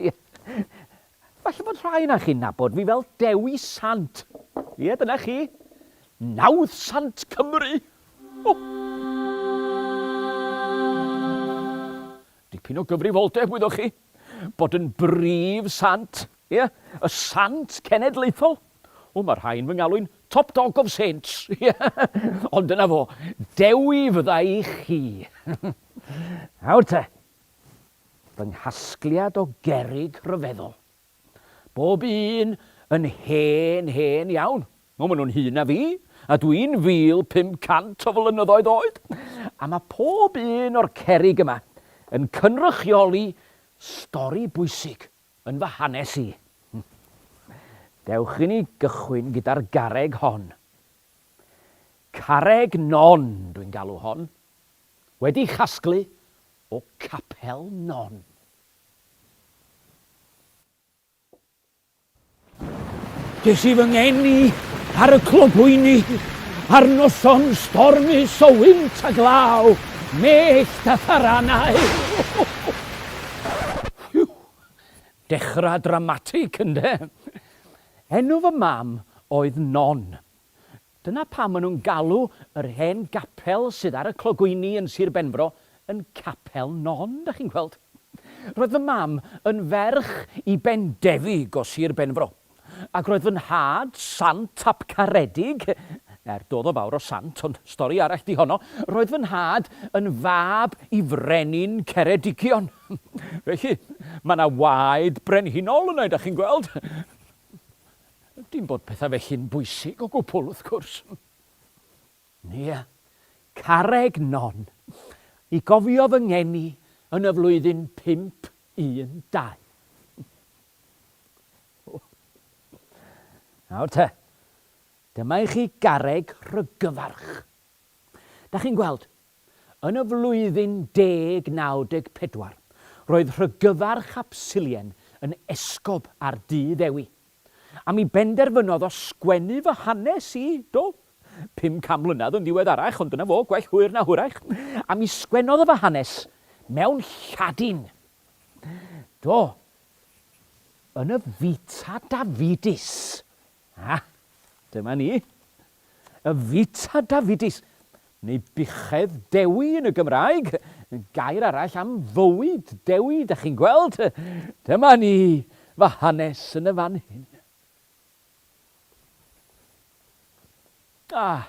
Ie. Falle bod rhai onoch chi'n nabod fi fel Dewi Sant. Ie, dyna chi. Nawdd Sant Cymru! O! Dipyn o gyfrifoldeb, wyddoch chi, bod yn brif sant. Ie, y sant cenedlaethol. O, mae rhai yn fy ngalw'n Top Dog of Saints. Ie, ond dyna fo. Dewi fydda i chi. Nawr te. fy nghasgliad o gerrig rhyfeddol. Bob un yn hen, hen iawn. O, maen nhw'n hŷn na fi, a dwi'n 1,500 o flynyddoedd oed! A mae pob un o'r cerrig yma yn cynrychioli stori bwysig yn fy hanes i. Dewch i ni gychwyn gyda'r garreg hon. Carreg Non dwi'n galw hon. Wedi casglu o Capel Non. Ges i fy ngeni ar y clogwyni ar noson stormus o wynt a glaw, mellt a tharanau. Whew! Dechrau dramatig, ynde? Enw fy mam oedd Non. Dyna pam maen nhw'n galw yr hen gapel sydd ar y clogwyni yn Sir Benfro yn Capel Non, dach chi'n gweld. Roedd fy mam yn ferch i Bendefig o Sir Benfro, ac roedd fy nhad, Sant ap Caredig, er doedd o fawr o sant, ond stori arall 'di honno, roedd fy nhad yn fab i frenin Ceredigion. Felly, mae 'na waed brenhinol yna, dach chi'n gweld. Dim bod pethau felly'n bwysig o gwbl, wrth gwrs. Nia, carreg non. I gofio fy ngeni yn y flwyddyn pump un dau. Nawr te, dyma i chi garreg rhygyfarch. Da chi'n gweld, yn y flwyddyn 1094, roedd rhygyfarch Absilien yn esgob ar du Ddewi, a mi benderfynodd o sgwennu fy hanes i, do, pum can mlynedd yn ddiweddarach, ond dyna fo, gwell hwyr na hwyrach, a mi sgwennodd o fy hanes mewn Lladin. Do, yn y Vita Davidis. A, dyma ni. Y Vita Davidis, neu buchedd Dewi yn y Gymraeg, gair arall am fywyd Dewi, da chi'n gweld. Dyma ni, fy hanes yn y fan hyn. Ah,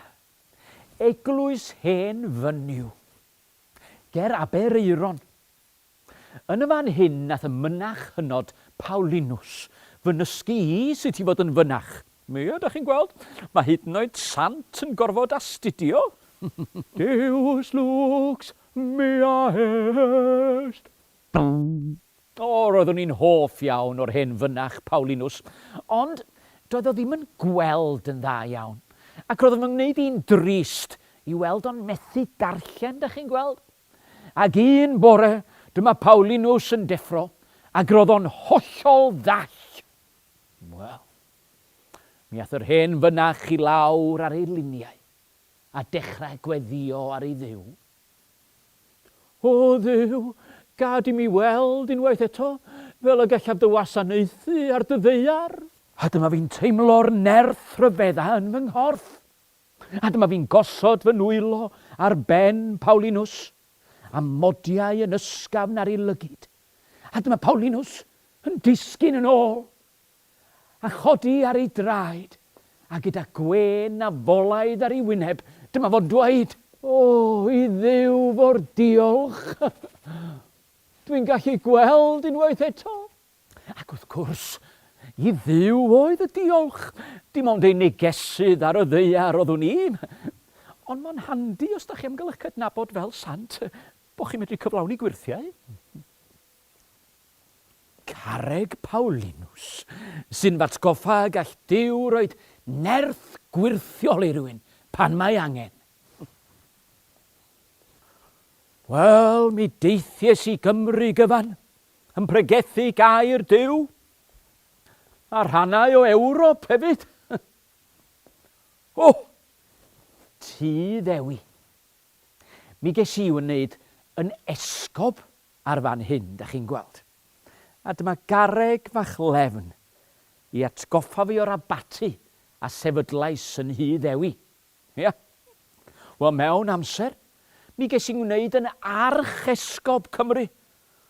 eglwys hen fynyw. Ger Aberaeron. Yn y fan hyn nath y mynach hynod Paulinus fy nysgu i sut i fod yn fynach. Ia, dach chi'n gweld? Mae hyd yn oed sant yn gorfod astudio! Deus lux mea est! O, roeddwn i'n hoff iawn o'r hen fynach Paulinus, ond doedd o ddim yn gweld yn dda iawn. Ac roedd o'n fy ngwneud i'n drist i weld o'n methu darllen, dach chi'n gweld? Ac un bore, dyma Paulinus yn deffro, ac roedd o'n hollol ddall. Wel, mi ath yr hen fynach i lawr ar ei liniau, a dechrau gweddïo ar ei Dduw. O Dduw, gad i mi weld unwaith eto fel y gallaf dy wasanaethu ar dy ddaear! A dyma fi'n teimlo'r nerth rhyfedda yn fy nghorff. A dyma fi'n gosod fy nwylo ar ben Paulinws, a modiau yn ysgafn ar ei lygid. A dyma Paulinws yn disgyn yn ôl, a chodi ar ei draed, a gyda gwên a folaidd ar ei wyneb, dyma fo'n dweud. O, i Dduw fo'r diolch! Dwi'n gallu gweld unwaith eto! Ac wrth gwrs, i Dduw oedd y diolch, dim ond ei negesydd ar y ddaear oeddwn i. Ond mae'n handi os da chi am gael eich cydnabod fel sant, bod chi'n medru cyflawni gwyrthiau. Carreg Paulinus, sy'n fatgoffa y gall Duw roed nerth gwyrthiol i rywun pan mae angen. Wel, mi deithies i Gymru gyfan, yn pregethu gair Duw a rhannau o Ewrop hefyd. o! Ti ddewi. Mi ges i wneud yn esgob ar fan hyn, da chi'n gweld. A dyma gareg fach lefn i atgoffa fi o'r abaty a sefydlais yn Hyd Ewi. Ia. Wel, mewn amser, mi ges i 'ngwneud yn Archesgob Cymru,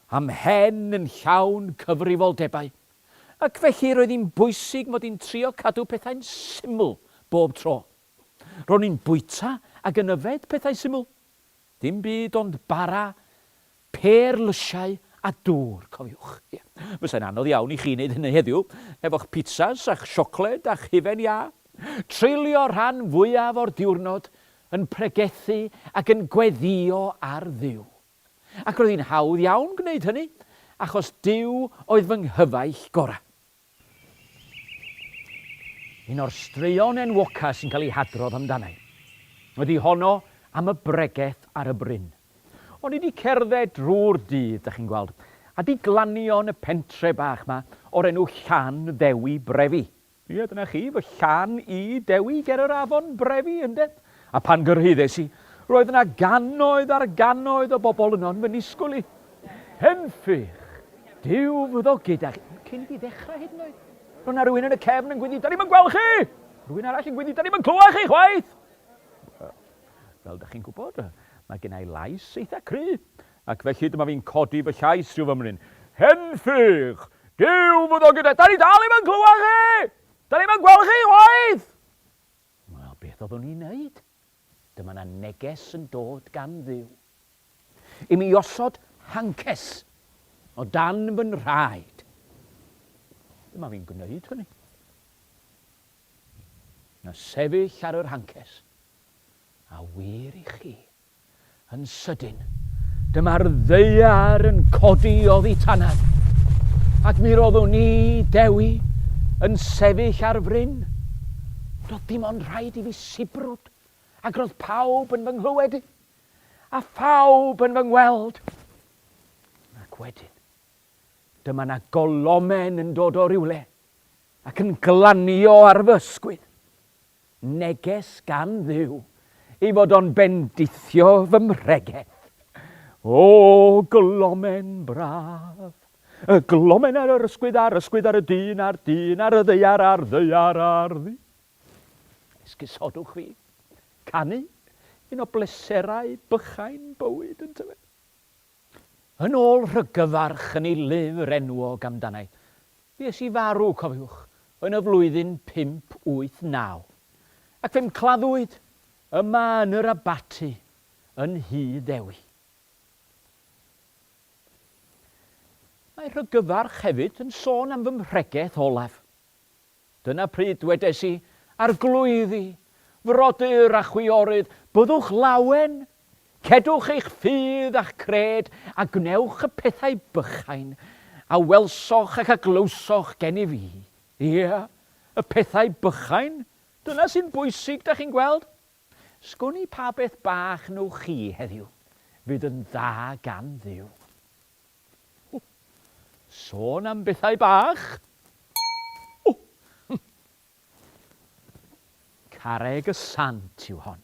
a 'mhen yn llawn cyfrifoldebau, ac felly roedd hi'n bwysig mod i'n trio cadw pethau'n syml bob tro. Ro'n i'n bwyta ac yn yfed pethau syml. Dim byd ond bara, pêr lysiau a dŵr, cofiwch. Ie, fysai'n anodd iawn i chi wneud hynny heddiw, efo'ch pitsas a'ch siocled a'ch hufen iâ. Treulio'r rhan fwyaf o'r diwrnod yn pregethu ac yn gweddïo ar Dduw. Ac roedd hi'n hawdd iawn gwneud hynny, achos Duw oedd fy nghyfaill gorau. Un o'r straeon enwoca sy'n cael ei hadrodd amdana i ydi honno am y bregeth ar y bryn. O'n i 'di cerdded drw'r dydd, 'dach chi'n gweld, a 'di glanio yn y pentre bach 'ma o'r enw Llan Ddewi Brefi. Ie, dyna chi, fy llan i, Dewi ger yr afon Brefi, ynde? A phan gyrhaeddes i, roedd yna gannoedd ar gannoedd o bobl yno yn fy nisgwyl i. Henffych! Duw fyddo gyda chi. Cyn i fi ddechrau hyd yn oed, roedd yna rywun yn y cefn yn gwynnu, 'Da ni'm yn gweld chi! Rhywun arall yn gwynnu, 'Da ni'm yn clywed chi chwaith! Fel dych chi'n gwybod, mae gen i lais eitha cry, ac felly dyma fi'n codi fy llais rhyw fymryn, Henffych! Duw fyddo gyda... Da ni dal ddim yn clywed chi! Da ni'm yn gweld chi chwaith! Wel, beth oeddwn i'n neud? Dyma 'na neges yn dod gan Dduw i mi i osod hances o dan fy nhraed. Dyma fi'n gwneud hynny. Na sefyll ar yr hances, a wir i chi, Yn sydyn, dyma'r ddaear yn codi oddi tanau, ac mi roeddwn ni, Dewi, yn sefyll ar fryn. Doedd dim ond rhaid i fi sibrwd, ac roedd pawb yn fy nghlywed i, a phawb yn fy ngweld. Ac wedyn, dyma na golomen yn dod o rywle, ac yn glanio ar fy ysgwydd. Neges gan Dduw, ei fod o'n bendithio fy mhregeth. O, glomen braf! Y glomen ar yr ysgwydd, a'r ysgwydd ar y dyn, a'r dyn ar y ddeiar, a'r ddeiar ar ddi. Esgusodwch fi. Canu, un o bleserau bychain bywyd, yntyfe? Yn ôl rhyggyfarch yn ei lyfr enwog amdana'i, fues i farw, cofiwch, yn y flwyddyn 589, ac fe'm claddwyd yma yn yr abaty yn Nhŷ Ddewi. Mae rhyggyfarch hefyd yn sôn am fy mhregeth olaf. Dyna pryd dwedes i, Arglwyddi, frodyr a chwiorydd, byddwch lawen! Cedwch eich ffydd a'ch cred, a gwnewch y pethau bychain, a welsoch ac a glywsoch gennyf i. Ie, y pethau bychain, dyna sy'n bwysig, da chi'n gweld. Sgwn i pa beth bach wnewch chi heddiw, fydd yn dda gan Dduw. O! Sôn am bethau bach! O! Hm! Carreg y Sant yw hon.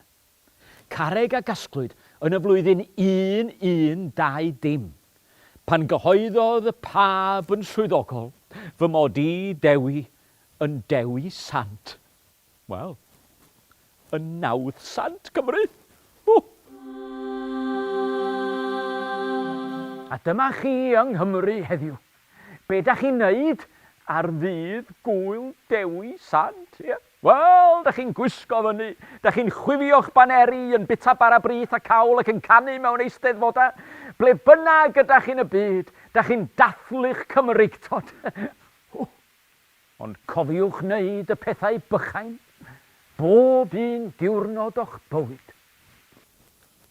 Carreg a gasglwyd yn y flwyddyn 1120, pan gyhoeddodd y Pab yn swyddogol fy mod i, Dewi, yn Dewi Sant. Wel, y nawdd sant Cymru! Ww! A dyma chi yng Nghymru heddiw. Be da chi'n neud ar ddydd Gŵyl Dewi Sant, ie? Wel, da chi'n gwisgo fyny, da chi'n chwifio'ch baneri, yn bita bara brith a cawl ac yn canu mewn eisteddfodau. Ble bynnag ydach chi'n y byd, da chi'n dathlu'ch Cymreictod. Ww! Ond cofiwch wneud y pethau bychain bob un diwrnod o'ch bywyd.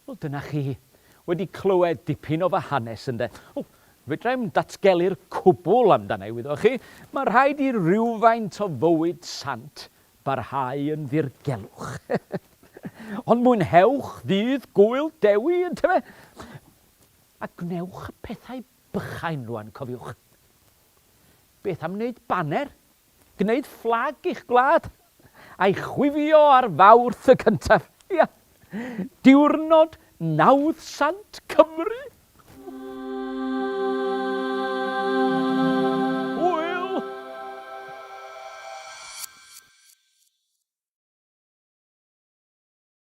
Wel, dyna chi. Wedi clywed dipyn o fy hanes, ynde? O, fedra i'm datgelu'r cwbl amdana i, wyddoch chi. Mae rhaid i rywfaint o fywyd sant barhau yn ddirgelwch. Ond mwynhewch ddydd Gŵyl Dewi, yntyfe? A gwnewch y pethau bychain rwan, cofiwch. Beth am wneud baner? Gwneud fflag i'ch gwlad, a'i chwifio ar Fawrth y cyntaf. Ia, diwrnod nawdd sant Cymru!